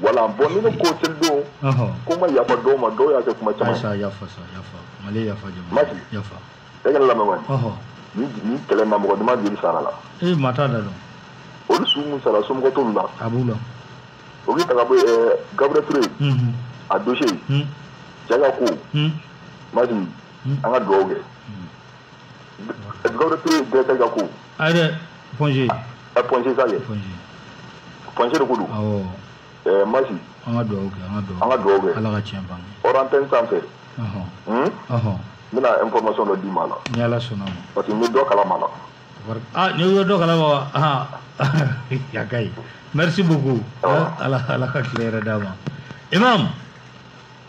voilà bon ni ne ko seli don ko n ma yafa dɔw ma dɔw y'a kɛ kuma caman yafa yafa yafa maki yafa maki yafa e ka n lamɛn wani ni ni kɛlɛ na mɔgɔ dama joli sara la ee maa t'a da dɔn olu su minnu sara somɔgɔ t'olu la a b'u la o k'i ta ka bɔ ɛɛ gabriel ture a dose cɛ ka ko maki an ka dugawu kɛ gabriel ture dɛsɛ ka ko a yɛrɛ point g ɛ point g sa ye point g point g de ko don awɔ ɛɛ maki an ka dugawu kɛ an ka dugawu an ka dugawu kɛ ala ka tiɲɛ bange hors antenne senfɛ ɔhɔn hun ɔhɔn n bɛna information dɔ d'i ma a la ni ala sɔnna ma parce que n bɛ dɔ kalama la Wari- ah ni y'o dɔ kalama wa ah a ka ɲi merci beaucoup Awɔ. ala ala ka tile hɛrɛ d'an ma imam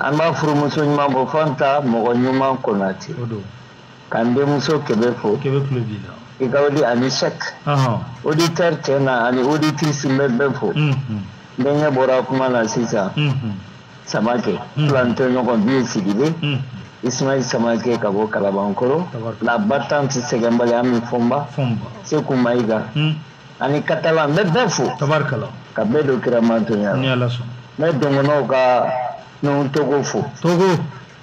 an ba furumuso ɲuman bɔ fanta mɔgɔ ɲuman konate ka n denmuso kebe fo i ka odi ani sɛk auditeurs tɛ na ani auditrices n bɛ bɛɛ fo n denkɛ bɔra kuma na sisan samakɛ filantɛ ɲɔgɔn biye sidibe ismail samakɛ ka bɔ kalabankoro la battante sɛgɛnbali ami fɔnba seku mayiga ani katalan n bɛ bɛɛ fo tabarikala ka bɛɛ don kira mantonya la ni ala sɔn n bɛ dɔgɔnɔw ka nuhun togo fo togo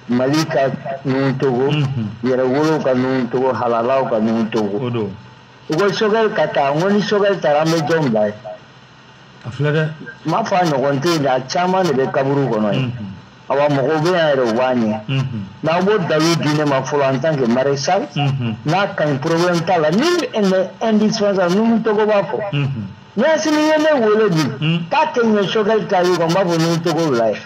mali ka nuhun togo mhm. yɛrɛwolow ka nuhun togo halalaw ka nuhun togo o don u ko sogɛli ka taa n ko ni sogɛli taara an bɛ jɔn bila ye a filɛ dɛ n m'a fɔ a ɲɔgɔn tɛ yen dɛ a caman de bɛ kaburu kɔnɔ ye mhm. awa mɔgɔw bɛ yan yɛrɛ u b'a ɲɛ n'aw b'o dalu di ne ma fɔlɔ en tant que maréchal n'a ka ɲi problème t'a la ni indispensable nuhun togo b'a fɔ ni asimi ye ne wele bi k'a tɛ ɲɛ sogɛli ta ye kɔni n b'a fɔ nuhun togo bila ye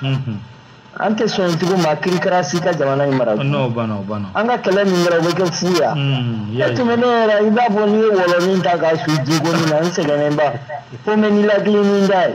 an tɛ sɔn tugu maa kirikara si ka jamana in mara an ka kɛlɛ min kɛra o bɛ kɛ fu ye e tun bɛ ne yɛrɛ i b'a fɔ n'i ye wɔlɔnin ta k'a su ji gonin na n sɛgɛnnenba fo n bɛ nilakili ni n da ye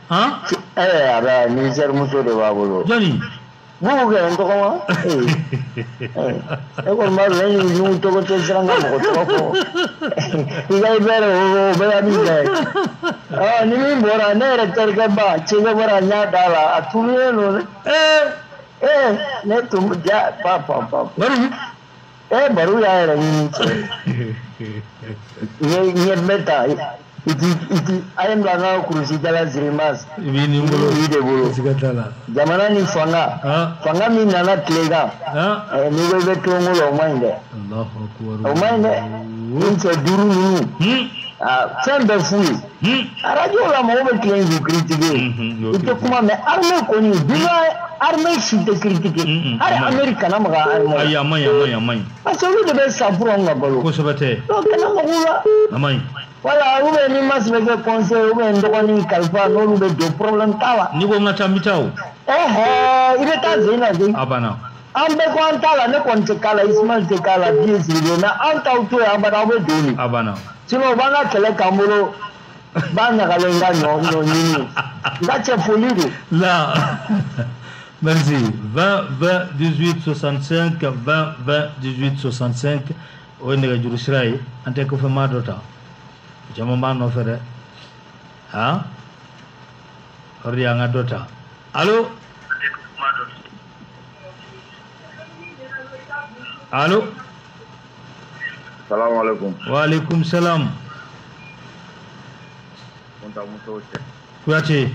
ɛɛ a bɛ nizɛri muso de b'a bolo jɔni bugu kɛ n tɔgɔma e kɔni b'a dɔn ne nuhun togo tɛ siran ka mɔgɔ tɔgɔ fɔ i ka i bɛɛ de o o bɛɛ ka min kɛ ɔ ni min bɔra ne yɛrɛ terikɛ ba cɛkɛ bɔra n y'a d'a la a tununen don dɛ ee ne tun ja pa pa pa bari Eh, baru y'a yɛrɛ ɲini. Nye nye beta. I tɛ i tɛ ayam langa kurusi jala girimasi. Ibi ni bolo. Ibi de bolo. Sikatala. Jamana ni fanga. Ha? Fanga min nana tilega. Ha? Eh, ni bɛɛ bɛ tulonko la o man ɲi dɛ. Alahu akubaru. O man ɲi dɛ. Ni cɛ duuru ninnu. Hmm? Ah, fɛn bɛɛ f'u ye. arajo la mɔgɔ bɛ tilen k'u kiritike i tɛ kuma mais arme kɔni duɲa arme si tɛ kiritike hali ameriki kana maga arme ayi a man ɲi a man ɲi a man ɲi parce que olu de bɛ sa pour anw ka balo kosɛbɛ tɛ donc kana mag'u la a man ɲi voilà ou bien ni mas bɛ kɛ conseil ou bien n dɔgɔnin kalifa n'olu bɛ don problème t'a la n'i ko n ka taa n bɛ taa o ɛhɛ i bɛ taa zen na zen a banna an bɛɛ ko an t'a la ne kɔni tɛ k'a la ismail tɛ k'a la biye sigilen na an t'aw to yen abada aw bɛ don nin a banna sinon u b'an ka kɛlɛ k'an bolo ba ɲagalen ka ɲɔ ɲɔ ɲini n ka cɛ foli don la merci 20 20 18 65 20 20 18 65 o ye nɛgɛjuru sira ye an tɛ kɔfɛmaa dɔ ta caman b'a nɔfɛ dɛ han o de y'an ka dɔ ta alo Alo. Salam alaikum. Wa alaikum salam. Kunta muso cɛ. Kuyate.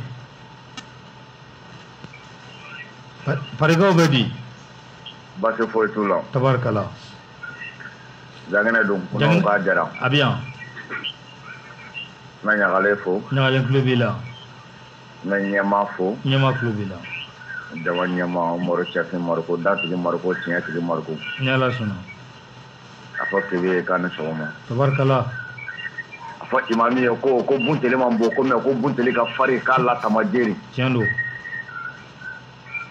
Farigaw bɛ di. Baasi foyi t'u la. Tabarikala. Jaginɛ don. Jaginɛ k'a jara. A bɛ yan. N bɛ ɲagalen fo. Ɲagalen tulo b'i la. n bɛ ɲɛmaa fo. Ɲɛmaa tulo b'i la. Jama ɲɛmaa Umaru Sɛki Mariko datigi Mariko tiɲɛtigi Mariko. Ni Ala sɔnna. A fɔ TV ye k'a ni sɔgɔma. Tabarikala. A fɔ imami ye ko ko bunteli man bon ko mais ko bunteli ka farin k'a latama jeri. Tiɲɛ don.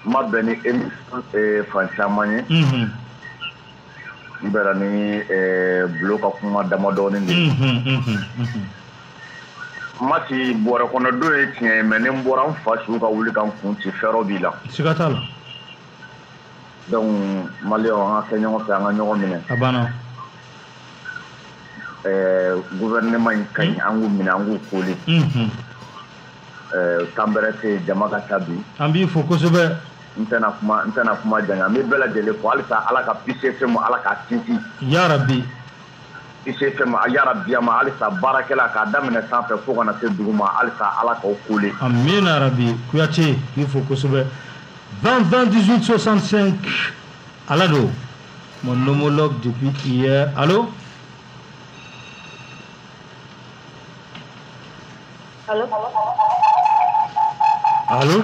N ma bɛn ni émission eh, fan caman ye. Unhun. N bɛnna ni eh, Bulo ka kuma damadɔɔni de ye. Unhun, unhun, unhun. masi bɔrɛ kɔnɔ don ye tiɲɛ ye mais ne n bɔra n fa su ka wuli ka n kun ci fɛɛrɛ b'i la siga t'a la donc maliyɛnw an ka kɛ ɲɔgɔn fɛ an ka ɲɔgɔn minɛ a banna eh, gouvernement in ka ɲi hmm? an k'u minɛ an k'u koli hmm, hmm. eh, temps bɛrɛ tɛ yen jama ka ca bi an b'i fo kosɛbɛ n tɛna kuma n tɛna kuma janya n bɛ bɛɛ lajɛlen fo halisa ala ka Peace FM ala k'a sinsin yarabi i tɛ fɛn ma yarabi amiina halisa baarakɛlaw k'a daminɛ sanfɛ fo ka na se dugu ma halisa ala k'aw kole amiina yarabi kuyate k'i fo kosɛbɛ 20 20 18 65 ala don mon homologue depuis hier allo allo allo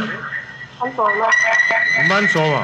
an sɔgɔma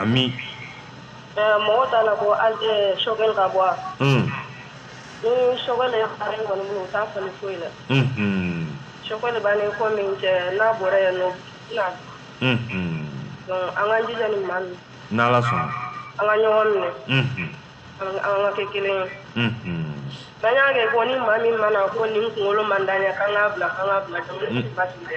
Ami mɔgɔ t'a la ko an tɛ Choguel ka bɔ ni Choguel taa fɔ foyi la Choguel b'a fɔ min kɛ n'a bɔra yan nɔ an ka ji ni ma min n ala sɔnna an ka ɲɔgɔn minɛ an ka kɛ kelen ye ba kɛ ko ni maa min mana ko ni kunkolo man' ɲɛ' bila an ka bila dɛ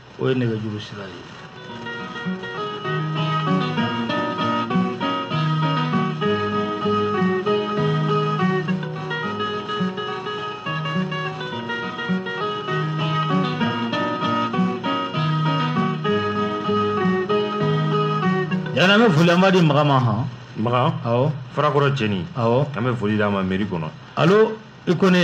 o ye nɛgɛjuru sira ye yala an bɛ foli an b'a di maga ma hɔn maga awɔ farakɔrɔ cɛni awɔ an bɛ foli d'a ma meri kɔnɔ alo i kone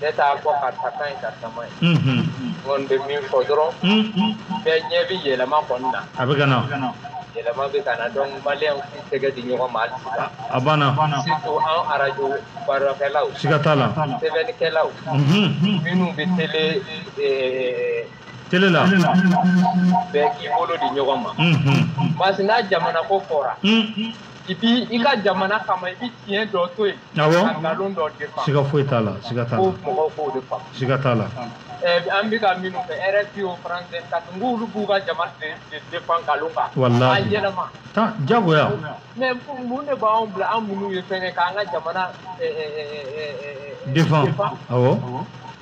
ne t'a fɔ karisa ka ɲi karisa man ɲi n kɔni bɛ min fɔ dɔrɔn bɛɛ ɲɛ bɛ yɛlɛma kɔni na a bɛ ka na yɛlɛma bɛ ka na donc maliyɛnw k'u tɛgɛ di ɲɔgɔn ma hali sisan a banna surtout an arajo baarakɛlaw siga t'a la sɛbɛnnikɛlaw minnu bɛ tele tele la bɛɛ k'i bolo di ɲɔgɔn ma parce que n'a jamana ko fɔra et puis i ka jamana kama i bɛ tiɲɛ dɔ to yen ka nkalon dɔ défend siga foyi t'a la siga t'a la ko mɔgɔw k'o de faamu siga t'a la an bɛ ka minnu kɛ rfi o france 24 k'olu b'u ka jamana défend nkalon kan walahi a yɛlɛma ta jagoya mais mun de b'anw bila an minnu ye fɛnkɛ k'an ka jamana défend awɔ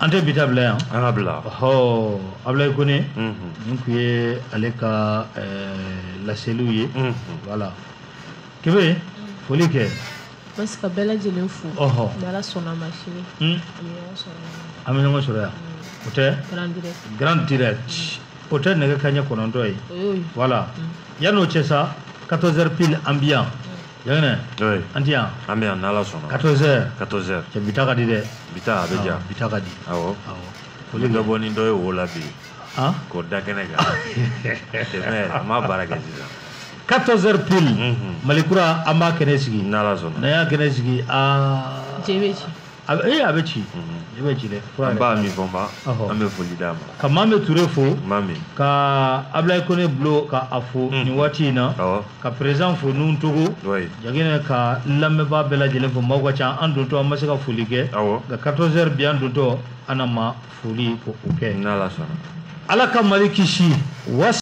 an tɛ bi ta bila yan an ka bila ɔ abulayi kone nin tun ye ale ka laseliw ye voilà kebe foli kɛ basi ka bɛɛ lajɛlen fo ni ala sɔnna ma sini an bɛ ɲɔgɔn sɔrɔ yan o tɛ grand direct o tɛ nɛgɛ kaɲɛ kɔnɔntɔn ye voilà yanni o cɛ sa 14 heures pile an bi yan Yɛlɛnɛ. Oui. An ti yan. An bɛ yan n'Ala sɔnna. 14 heures. 14 heures. Cɛ bi ta ka di dɛ. Bi ta a bɛ diya. Bi ta ka di. Awɔ. Awɔ. Ko ni dɔ bɔ ni dɔ ye wo la bi. Han. K'o da kɛnɛ kan. Tɛmɛ yɛrɛ. An b'a baara kɛ sisan. 14 heures pile. Unhun. Mali kura an b'a kɛnɛ sigi. N'Ala sɔnna. N'an y'a kɛnɛ sigi aa. Je bɛ ci. A bɛ- ee a bɛ ci i bɛ ci dɛ an b'a min fɔ ma Ɔhɔ. an bɛ foli d'a ma ka maa bɛ ture fo maa min ka ablaye kone bulo ka a fo nin waati in na awɔ ka perezidan fo nuhun togo wayi jagina ka lamɛnbaa bɛɛ lajɛlen fo maaw ka ca an dontɔ an ma se ka foli kɛ awɔ nka 14 heures bi an dontɔ an na ma foli ko o kɛ n'ala sɔnna ala ka mali kisi wasa